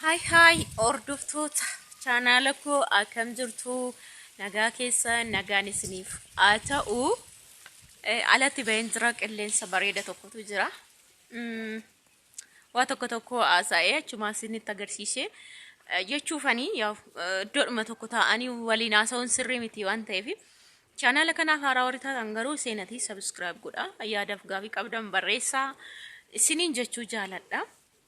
Hi hi hordoftoota chaanaala koo akkam jirtu nagaa keessa nagaan isiniif haa ta'u Eh, alatti baheen jira qilleensa bareeda tokkotu jira Mm, waa tokko tokko haasa'ee achumaa isinitti agarsiisee Eh, jechuufanii yaa eh, iddoodhuma tokko taa'anii waliin haasa'uun sirrii miti waan ta'eef chaanaala kanaaf haaraa warri taatan garuu seenatii sabiskiraayib godhaa yaadaaf gaafii qabdan barreessaa isiniin jechuu jaaladha.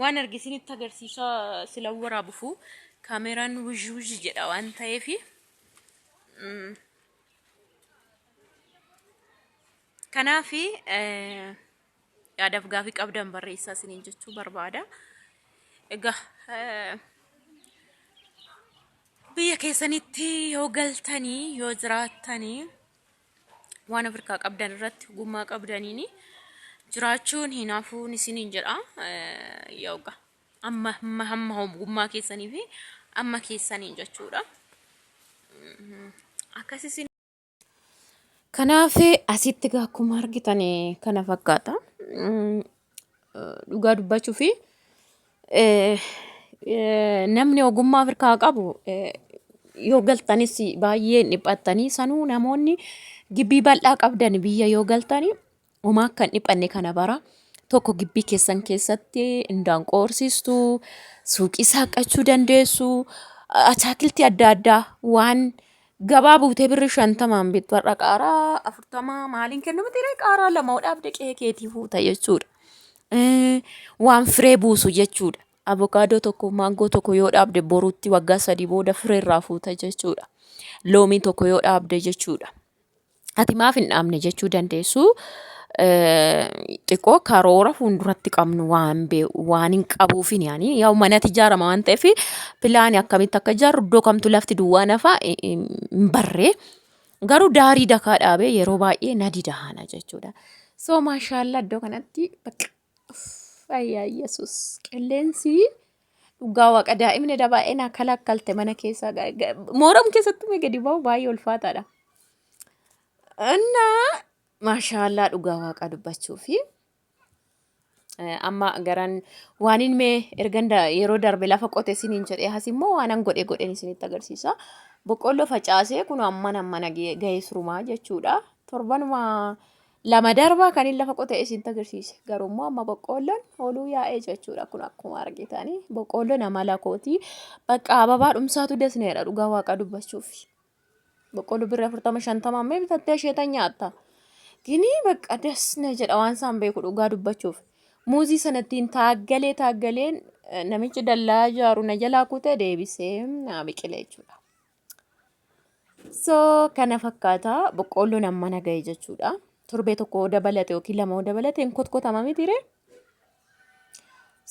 Waan arge isinitti agarsiisaa sila waraabufu kaameraan wuzhi wuzhi jedha waan ta'eef kanaaf yaadaaf gaafii qabdan barreessaa isiniin jechuu barbaada. Egaa biyya keessanitti yoo galtanii yoo jiraattanii waan Afrikaa qabdan irratti ogummaa qabdaniin jiraachuun hin hafuun isiniin jedha. Yooga amma amma amma ogummaa keessanii fi amma keessaniin jechuudha. Akkas isin Kanaaf asitti akkuma argitan kana fakkaata. Dhugaa dubbachuu fi namni ogummaa Afrikaa qabu yoo galtanis baay'ee hin dhiphattanii sanuu namoonni gibbii bal'aa qabdan biyya yoo galtanii homaa akka hin dhiphanne kana bara tokko gibbii keessan keessatti indaan qoorsistu suuqii saaqachuu dandeessu ataakiltii adda addaa waan Gabaa buutee birri shantamaan bittu har'a qaaraa afurtamaa maaliin kennama tiree qaaraa lama dhaabde qe'ee keetii fuuta jechuudha. Eh, Waan firee buusu jechuudha. Avokaadoo tokko maangoo tokko yoo dhaabde boruutti waggaa sadii booda firee irraa fuuta jechuudha. Loomii tokko yoo dhaabde jechuudha. Ati maaf hin dhaabne jechuu dandeessu xiqqoo karoora fuulduratti qabnu waan bee- waan hin qabuufin yaani yaa'u manatti ijaarama waan ta'eef pilaani akkamitti akka ijaarru iddoo kamtu lafti duwwaa nafa hin- hin hin barree garuu daarii dakaa dhaabee yeroo baay'ee na didahaana jechuudha. So maashaallah iddoo kanatti bakka Fayyaa Yesuus. Qilleensi dhugaa waaqa daa'imni dha baay'ee naa kalakkalte mana keessaa. Mooram keessatti mee gadi ba'u baay'ee ulfaataadha. Innaa maashaallaa dhugaa waaqa dubbachuu fi amma garan waanin mee ergan yeroo darbe lafa qote siniin jedhee has immoo waanan godhe godhen isinitti agarsiisa. Boqqolloo facaasee kun amman ammana ga'ee surumaa jechuudha. Torbanuma lama darbaa kanin lafa qote isinta agarsiise garuu immoo amma boqqoolloon oluu yaa'ee jechuudha kun akkuma argitanii boqqoolloon amala kootii bakka ababaa dhumsaatu dasneedha dhugaa waaqa dubbachuuf boqqooloo birra afurtama shantama ammee bitattee isheetan nyaatta ginii bakka dasne jedha waan isaan beeku dhugaa dubbachuuf muuzii sanattiin taaggalee taaggaleen namichi dallaa ijaaru na jalaa kutee deebisee naa biqile jechuudha. So kana fakkaata boqqoolloon amma na ga'e jechuudha. Torbee tokko yoo dabalate yookiin lama yoo dabalate hin kotkotama mitiire.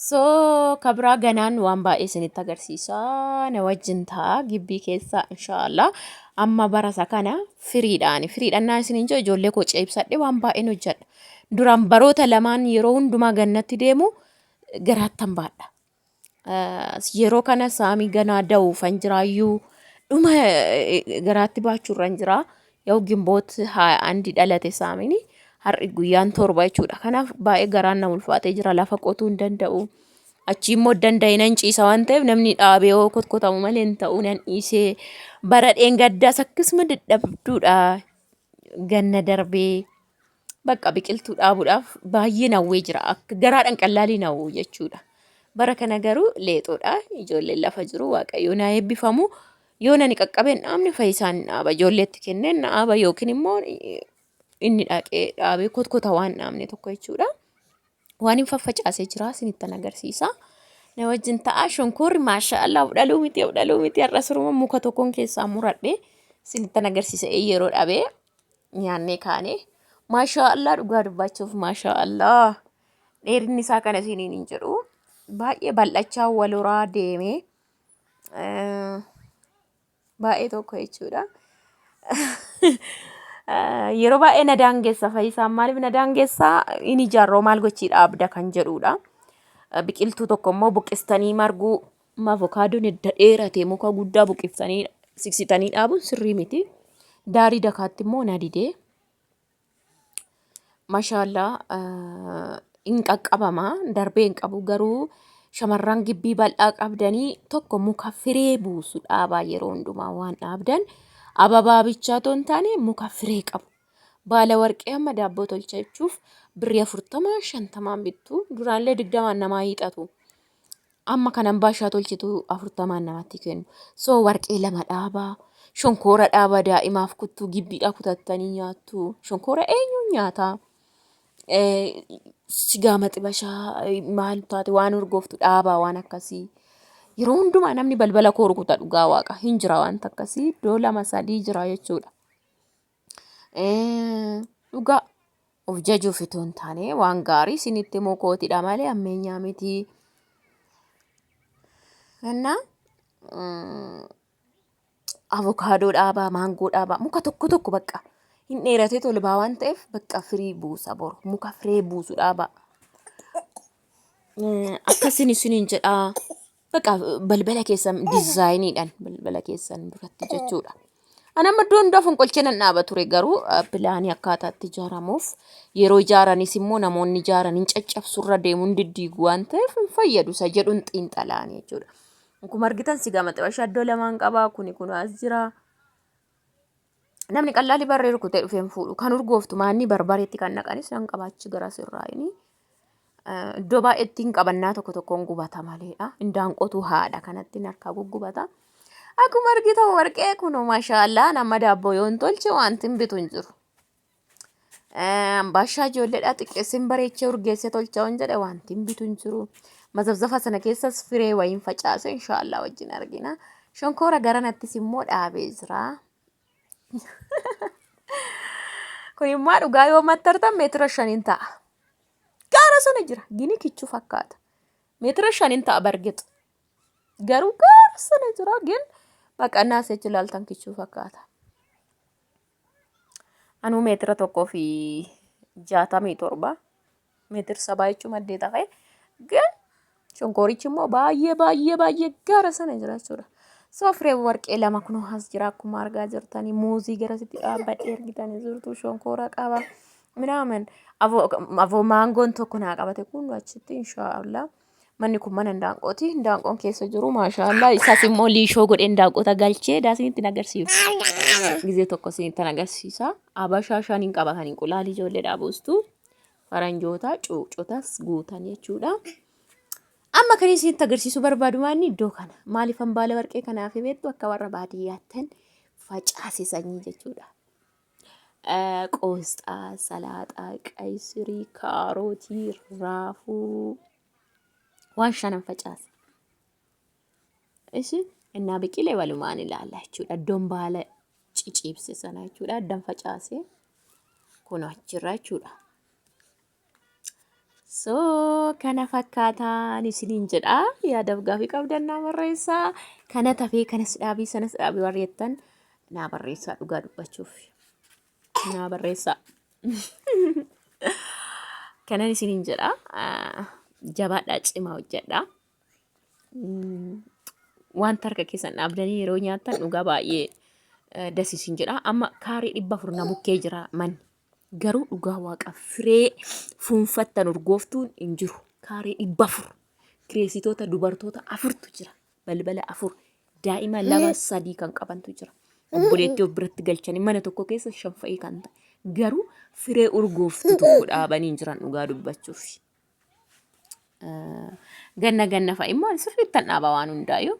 So kabraa ganaan waan baay'ee isinitti agarsiisa. Na wajjin ta'a gibbii keessa inshaallah. Amma barasa kana firiidhaan firiidhaan naa isiniin jira ijoollee koo ceebsadhe waan baay'een hojjedha. Duraan baroota lamaan yeroo hundumaa gannatti deemu garaattan baadha. Yeroo kana saamii ganaa da'uufan jiraayyuu dhuma garaatti baachuurran jiraa. Yoo gimboot haa andi dhalate saamiin har'i guyyaan torba jechuudha. Kanaaf baay'ee garaan na ulfaatee jira lafa qotuu hin danda'u. Achii immoo danda'e nan ciisa waan ta'eef namni dhaabee yoo kotkotamu malee hin ta'u nan dhiisee bara dheengaddaas akkasuma dadhabduudha ganna darbee. Bakka biqiltuu dhaabuudhaaf baay'een hawwee jira. Akka garaadhaan qallaaliin hawwu jechuudha. Bara kana garuu leexoodha. Ijoolleen lafa jiru waaqayyoo naa eebbifamu. Yoo nani qaqqabeen dhaabne fayyisaan hin dhaaba. Ijoolleetti kennee hin dhaaba yookiin immoo inni dhaqee dhaabee kotkota waan dhaabne tokko jechuudha. Waan hin faffacaasee jira sinittan agarsiisa. Na wajjin ta'a shonkoorri maashaa Allah dhaluu miti dhaluu miti har'a suruma muka tokkoon keessaa muradhe sinittan agarsiisa ee yeroo dhabee nyaannee kaane. Maashaa Allah dhugaa dubbachuuf maashaa Allah dheerinni isaa kana isiniin hin jedhu baay'ee bal'achaa waloraa deemee. eh, baay'ee tokko jechuudha. Yeroo baay'ee na daangessa fayyisaan maaliif na daangessa in ijaarroo maal gochii dhaabda kan jedhudha. Biqiltuu tokko immoo buqqistanii marguu avokaadoon edda dheerate muka guddaa buqqistanii siksitanii dhaabuun sirrii miti. Daarii dakaatti immoo na didee Mashaallaa hin qaqqabama darbee hin qabu garuu shamarran gibbii bal'aa qabdanii tokko muka firee buusu dhaabaa yeroo hundumaa waan dhaabdan ababaa bichaa otoo hin taane muka firee qabu. Baala warqee amma daabboo tolcha jechuuf birrii afurtama shantamaan bittu duraallee digdamaan namaa hiixatu. Amma kan ambaashaa tolchitu afurtamaan namatti kennu. So warqee lama dhaabaa, shonkoora dhaabaa daa'imaaf kuttuu gibbiidhaa kutattanii nyaattu. Shonkoora eenyuun nyaataa? Sigaa maxibashaa maal taate waan urgooftu dhaabaa waan akkasii. Yeroo hundumaa namni balbala koo rukuta dhugaa waaqa hin jira wanta akkasii iddoo lama sadii jira jechuudha. Dhugaa of jajuuf itoo hin taane waan gaarii isinitti himuu kootidha malee ammeenyaa miti. Innaa avokaadoo dhaabaa, maangoo dhaabaa, muka tokko tokko bakka hin dheeratee tolbaa waan ta'eef bakka firii buusa boru muka firee buusu dhaabaa. Akkasiin isiniin jedhaa. Baqa balbala keessan dizaayiniidhaan balbala keessan duratti jechuudha. Ani amma iddoo hundaa fonqolchee nan dhaaba ture garuu eh, pilaanii akkaataa itti ijaaramuuf yeroo ijaaranis immoo namoonni ijaaran hin caccabsurra deemuun diddiigu waan ta'eef hin fayyadu isa jedhuun xiinxalaan jechuudha. Akkuma argitan si gama xibashaa iddoo lamaan qabaa kuni kun as jira. Namni qallaali barree rukutee dhufee hin fuudhu. Kan urgooftu maanni barbareetti kan naqanis nan qabaachi gara sirraa inni. Iddoo baay'eetti hin qabannaa tokko tokkoon gubata maleedha. Indaan qotuu haadha kanatti harkaa guggubata. Akkuma argitan warqee kun maashaallah nama daabboo yoon tolche wanti hin bitu hin jiru. Ambaashaa ijoolleedhaa xiqqeessin bareechee urgeessee tolchaa hin jedhe wanti hin bitu hin jiru. Mazabzafa sana keessas firee wayiin facaase inshaallah wajjin argina. Shonkoora garanattis immoo dhaabee jira. Kun immoo dhugaa yoo mattartan meetira shaniin ta'a. Gaara sana jira. Gini kichuu fakkaata. Meetira shaniin ta'a bargixu. Garuu gaara sana jira gin baqannaa seechi ilaaltan kichuu fakkaata. Anuu meetira tokkoo fi jaatamii torba meetir sabaa jechuun maddee ta'e garuu shonkoorichi immoo baay'ee baay'ee baay'ee gaara sana jira jechuudha. So firee warqee lama kunoo as jira akkuma argaa jirtanii muuzii gara sitti dhaabbadhee argitanii jirtu shonkoora qaba. Minaaman avoo maangoon tokko naa qabate kun achitti inshaallah. Manni kun mana indaanqooti. Indaanqoon keessa jiru maashaallah. Isaas immoo liishoo godhee indaanqoota galchee daasiin ittiin agarsiisu. Gizee tokko siin ittiin agarsiisa. Abashaa shaniin qaba kan inqulaalii ijoollee dhaabuustu. Faranjoota cuucotas guutan jechuudha. Amma kan isin itti agarsiisu barbaadu maanni iddoo kana. Maaliifan baala warqee kanaaf beektu akka warra baadiyyaattan facaase sanyii jechuudha. Qoosxaa, salaaxaa, qaysirii, kaarootii, raafuu waan shanan facaasa. Ishi innaa biqile walumaan ilaalla jechuudha. Iddoon baala ciciibse sana jechuudha. Addan facaase kun achirra jechuudha. So kana fakkaataan isiniin jedha. Yaadaaf gaafii qabdan naa barreessaa. Kana tafee kanas dhaabii sanas dhaabii warri jettan naa barreessaa dhugaa dubbachuuf. Naa barreessaa. Kanan isiniin jedha. ah, Jabaadhaa cimaa hojjedhaa. Mm, Wanta harka keessan dhaabdanii yeroo nyaattan dhugaa baay'ee eh, das isin jedha. Amma kaarii dhibba afur na bukkee jira manni. Garuu dhugaa waaqa firee fuunfattan urgooftuun hin jiru. Kaaree dhibba afur kireessitoota dubartoota afurtu jira. Balbala afur daa'ima lama sadii kan qabantu jira. Obboleettii of biratti galchanii mana tokko keessa shan fa'ii kan ta'e. Garuu firee urgooftu tokko dhaabanii hin jiran dhugaa dubbachuuf. Ganna ganna fa'i immoo sirriittan dhaaba waan hundaayyuu.